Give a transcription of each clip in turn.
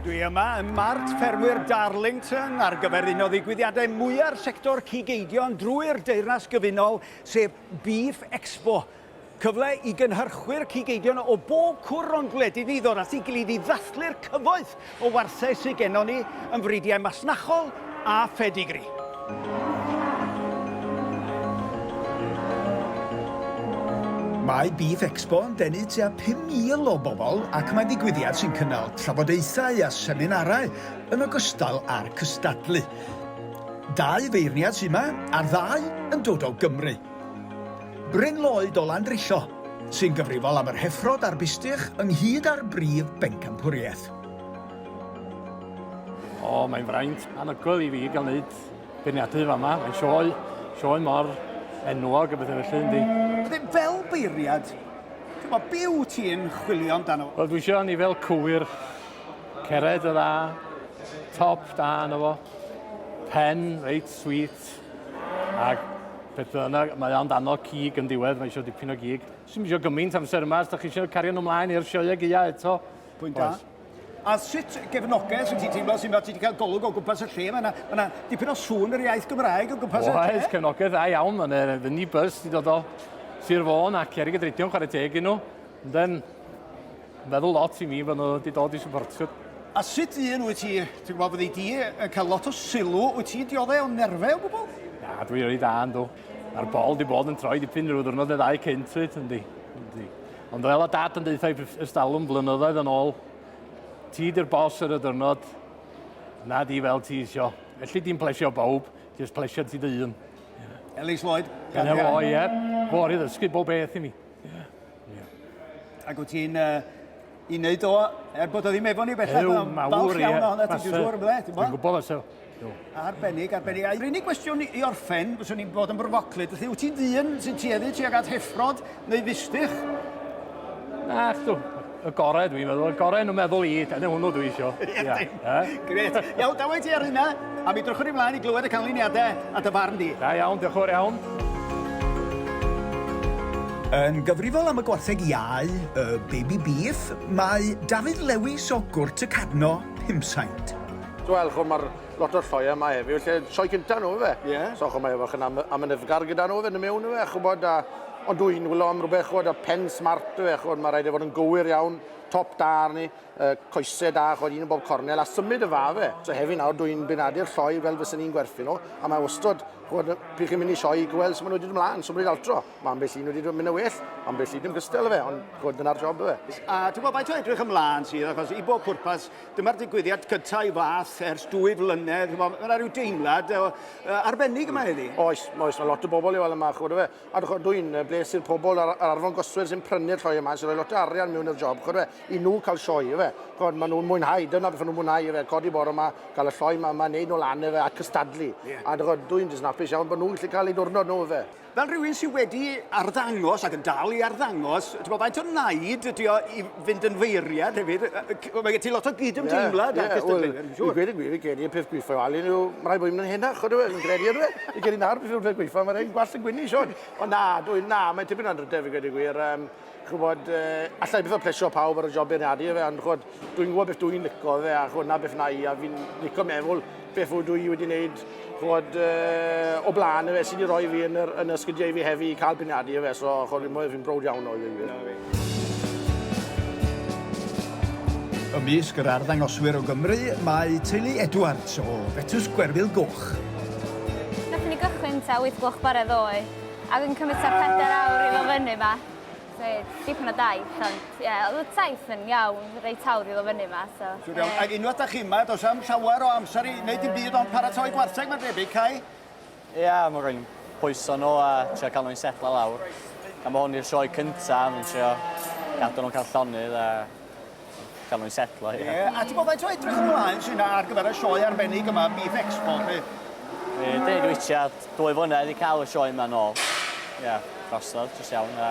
Dwi yma ym Mart Ffermwyr Darlington ar gyfer un o ddigwyddiadau mwya'r sector cig eidion drwy'r Deyrnas Gyfunol, sef Beef Expo. Cyfle i gynhyrchwyr cig eidion o bob cwr o'n gwledydd ni ddod at ei gilydd i ddathlu'r cyfoeth o wartheg sydd gennon ni yn fridiau masnachol, a phedigri. Mae Beef Expo yn denu tua 5,000 o bobl ac mae'n ddigwyddiad sy'n cynnal trafodaethau a seminarau yn ogystal â'r cystadlu. Dau feirniad sy'n yma, a'r ddau yn dod o Gymru. Bryn Lloyd o Landrillo, sy'n gyfrifol am yr heffrod a'r bistych ynghyd â'r brif bencampwriaeth. O, oh, mae'n fraint anhygoel i fi gael gwneud beirniadu fama. Mae'n sioe, sioe mor enwog a bethau felly, yndi. Bydde fel beiriad, ti'n bod, be wyt ti'n chwilio amdano? Wel, dwi eisiau ni fel cywir, cered y dda, top da yna fo, pen reit sweet, ac beth bynnag, mae o'n dano cig yn diwedd, mae eisiau dipyn o gig. Swn eisiau gymaint amser yma, os da chi eisiau cario nhw ymlaen i'r sioe ag ia eto. Pwynt da. A sut gefnogaeth sy'n ti'n teimlo sy'n fel ti wedi cael golwg o gwmpas y lle? Mae yna, mae yna dipyn o sŵn yr iaith Gymraeg o gwmpas y lle. Oes, cefnogaeth dda iawn. Mae'n uh, the neighbours sy'n dod o Sir Fôn a Cerig y Dreidion chwarae teg yn nhw. Ond yn feddwl lot i mi fod nhw wedi dod i supportio. A sut un wyt ti, ti'n gwybod, fyddi di yn cael lot o sylw, wyt ti'n dioddau o nerfau o gwbl? Na, dwi'n rhaid da yn dw. Mae'r bol di bod yn troi dipyn rhyw ddwrnod neu ddau cynt, wyt, yndi. Ond fel o dad yn deuthau ystalwm blynyddoedd yn ôl, ti di'r bos ar y dyrnod, na di fel ti isio. Felly di'n plesio bawb, jyst plesio ti dy un. Yeah. Ellis Lloyd. Gan efo, o ie. Fôr i ddysgu bob beth i mi. Yeah. Yeah. Ac wyt ti'n uh, i wneud o, er bod o ddim efo ni bellach, Ew, mawr, iawn ohono ti, dwi'n siŵr, ble? Dwi'n gwybod, so, Do. Arbennig, arbennig. A'r unig gwestiwn i orffen, fyswn i'n bod yn brofoclyd, felly wyt ti'n ddyn sy'n tueddu tuag at heffrod neu fistych? Na, chdo, y gorau dwi'n meddwl, y gorau yn y meddwl i, dyna hwnnw dwi isio. Ia, Gret. Iawn, dawai ti ar hynna, a mi drychwn i mlaen i glywed y canlyniadau a dy farn di. Da iawn, diolch yn fawr iawn. Yn gyfrifol am y gwartheg iau, y baby beef, mae Dafydd Lewis o Gwrt y Cadno, Pumsaint. Wel, ch'mo' ma'r lot o'r sioe yma heddiw lle sioe cynta nhw yfe? Ie. So ch'mo' mae fach yn am- amynyddgar gyda nhw fynd yn mewn yfe a ch'bod a ond dw i'n wylo am rwbeth ch'bod y pen smart yfe ch'bod ma' raid e fod yn gywir iawn, top da arni, yy coese da ch'od un yn bob cornel a symud y fa yfe. So heddiw nawr dw i'n benadu'r sioe fel fysen i'n gwerthu nhw a mae wastod ch'bod pryd chi'n mynd i sioe gweld sut ma' nhw wedi dod mlan, symud altro. Ma' ambell un wedi dod myn' yn well, ambell un yn gystal yfe ond ch'bod dyna'r job yfe. A ti'n gwbod faint o edrych ymlan sydd achos i bob pwrpas Dyma'r digwyddiad cyntaf i fath ers dwy flynedd. Mae yna rhyw deimlad o, uh, arbennig yma heddi. Oes, oes, mae lot o bobl i weld yma, chwrdd fe. A dwi'n dwi bles i'r pobl ar, ar arfon goswyr sy'n prynu'r lloi yma, sy'n rhoi lot o arian mewn i'r job, chwrdd fe, i nhw cael sioe, efe. Chwrdd, maen nhw'n mwynhau, dyna beth nhw'n mwynhau, efe, codi bore yma, cael y lloi yma, yma, neud nhw lan, efe, a cystadlu. Yeah. A dwi'n dysnapus iawn bod nhw'n gallu cael ei diwrnod nhw, efe. Fel rhywun sydd wedi arddangos ac yn dal i arddangos, ti'n gwybod, faint o naid ydy o i fynd yn feiriad hefyd? Mae gen ti lot o gyd-ymdeimlad yeah, yeah, well, dwi'n siŵr. I gweud y gwir, i gen i y peth gweithio al un yw, mae rhaid bod i'n mynd yn henach, chod dwi'n credu ydw e. I gen i nawr, dwi'n siŵr peth gweithio, mae rhaid gwallt yn gwynnu, Sean. O na, dwi'n na, mae'n tipyn o'n drydedd, i gweud y gwir. Um, Chwbod, uh, allai bydd o plesio pawb ar y job beirniadu efe, ond chwbod, dwi'n gwybod beth dwi'n licio fe, a chwbod, na beth na i, a fi'n licio meddwl beth fwy dwi wedi wneud, chwbod, uh, o blaen efe, sydd wedi rhoi fi yn, yr, yn y sgidiau fi hefi i cael beirniadu efe, so chwbod, fi'n fi'n brod iawn o i fi. Ymysg yr arddangoswyr o Gymru, mae teulu Edwards o Betws Gwerfyl Goch. Nath ni gychwyn ta 8 gloch bore ddoe. Ac yn cymryd tua pedair awr i ddod fyny yma. So, dipyn o daith, ond ie, oedd y taith yn iawn, reit hawdd i ddod fyny yma, so... Siwr iawn. Ac unwaith da chi yma, does am llawer o amser i wneud dim byd ond paratoi gwartheg, mae'n debyg, Cai? Ia, mae rwy'n pwyso nhw a trio cael nhw'n setlo lawr. Gan bod hwn i'r sioe cyntaf, dwi'n trio gadw nhw'n cael llonydd a Gael nhw'n setlo, ie. Ie, a ti'n gwybod faint o edrych ymlaen sy'n ar gyfer y sioe arbennig yma, Beef Expo, chi? Ie, dwi wedi tua dwy flynedd i cael y sioe yma nôl. Ie, drosodd, jyst iawn, a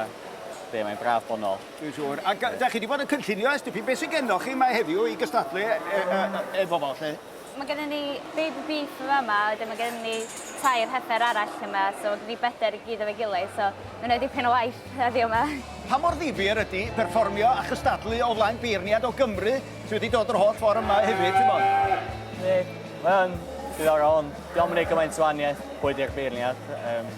ie, mae'n braf bod nôl. Dwi'n siŵr. A da chi wedi bod yn cynllunio ers dipyn, beth sydd gennoch chi mae heddiw i gystadlu e, e, e, efo fo, lle? Mae gennym ni baby beef fama, wedyn mae gennym ni tair heffer arall yma, so mae gen ni bedair i gyd efo'i gilydd, so mae'n gwneud dipyn o waith heddiw yma. Pa mor ddifyr ydy perfformio a chystadlu o flaen beirniad o Gymru sydd wedi dod yr holl ffordd yma hefyd, t'mod? Yndi, mae o'n ddiddorol ond 'di o'm yn neud gymaint o wanieth pwy 'di'r beirniad, yym.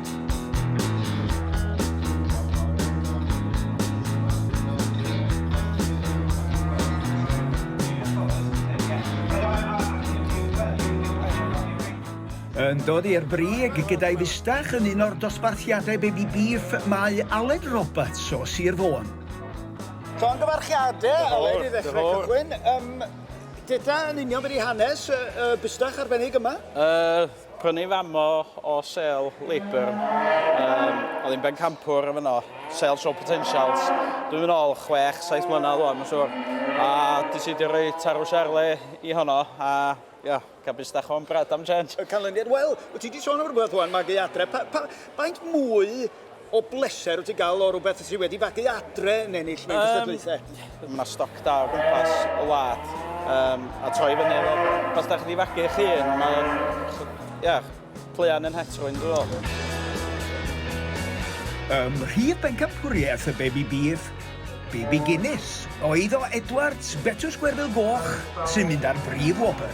Yn dod i'r brig gyda'i fustach yn un o'r dosbarthiadau baby beef mae Aled Roberts o Sir Fôn. Llongyfarchiadau, Aled, i ddechrau cychwyn. Um, Dyda yn union beth i hanes y, y bustach arbennig yma? Uh, Prynu famo o sale labour yym oedd hi'n bencampwr yn fanno, sale show potentials, dwi'm yn ôl chwech, saith mlynedd wan mae'n siŵr, a di sidio roi tarw siarle i honno a ia, cabis dach o'n brad am change. Canlyniad, wel, wyt ti di sôn am rwbeth wan, magu adre, pa- pa- faint mwy o bleser wyt ti'n gael o rhywbeth sydd wedi fagu adre yn ennill mewn cystadlaethau? Um, Mae yna stoc da o gwmpas y wlad um, a troi fyny efo. Os da chi wedi fagu eich hun, mae'n ia, pleuan yn het rwy'n dweud. Ym mhrif bencampwriaeth y Bebi Beef, Bebi Guinness, oedd o Edwards, Betws Gwerfyl Goch, sy'n mynd â'r brif wobr.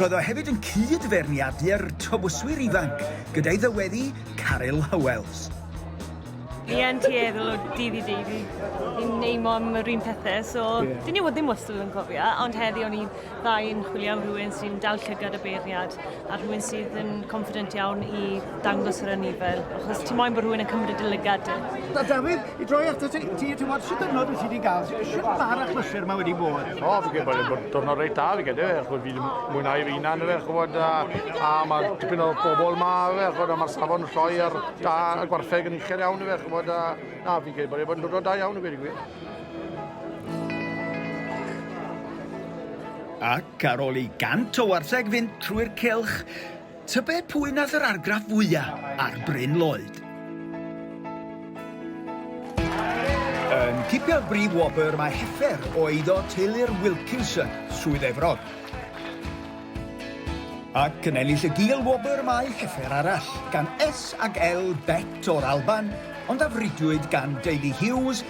Roedd o hefyd yn cyd-feirniadu'r Tywyswyr Ifanc gyda'i ddyweddi Caryl Howells. Fi yn tueddol o dydd i dydd i i'n neimo am yr un pethau, so yeah. dyn ni wedi ddim wastad yn cofio, ond heddi o'n i'n dda i'n chwilio am rhywun sy'n dal llygad y beirniad a rhywun sydd yn confident iawn i dangos yr anifail, achos ti'n moyn bod rhywun yn cymryd y lygad. Da, Dafydd, I droi at ti, ti, ti bod sy'n dynod wyt ti wedi gael, sy'n ma'r achlysur yma wedi bod? O, fi gen bod yn dwrnod reit dal i gyda fe, chod fi ddim mwynhau fy hunan fe, chod, a, a mae dipyn o bobl ma fe, chod, a mae'r safon lloi ar da y gwartheg yn uchel iawn fe, chod, a, na, fi gen bod yn dwrnod da iawn i gwedi gwir. Ac ar ôl i gant o wartheg fynd trwy'r cylch, Tybed pwy nath yr argraff fwya ar Bryn Lloyd? Yn cipio'r brif wobr mae Heffer o eiddo teulu'r Wilkinson, Swydd Efrog. Ac yn ennill y gil wobr mae Heffer arall, gan S ag L Bet o'r Alban, ond a fridwyd gan deulu Hughes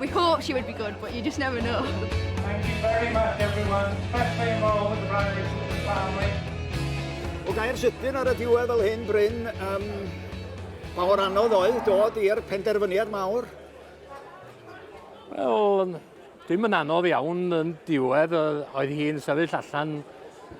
We thought she would be good, but you just never know. Thank you very much everyone, especially in all the Rose family. O gair sydyn ar y diwedd fel hyn, Bryn, um, mae hwn anodd oedd dod i'r penderfyniad mawr? Wel, dim yn anodd iawn yn diwedd, oedd hi'n sefyll allan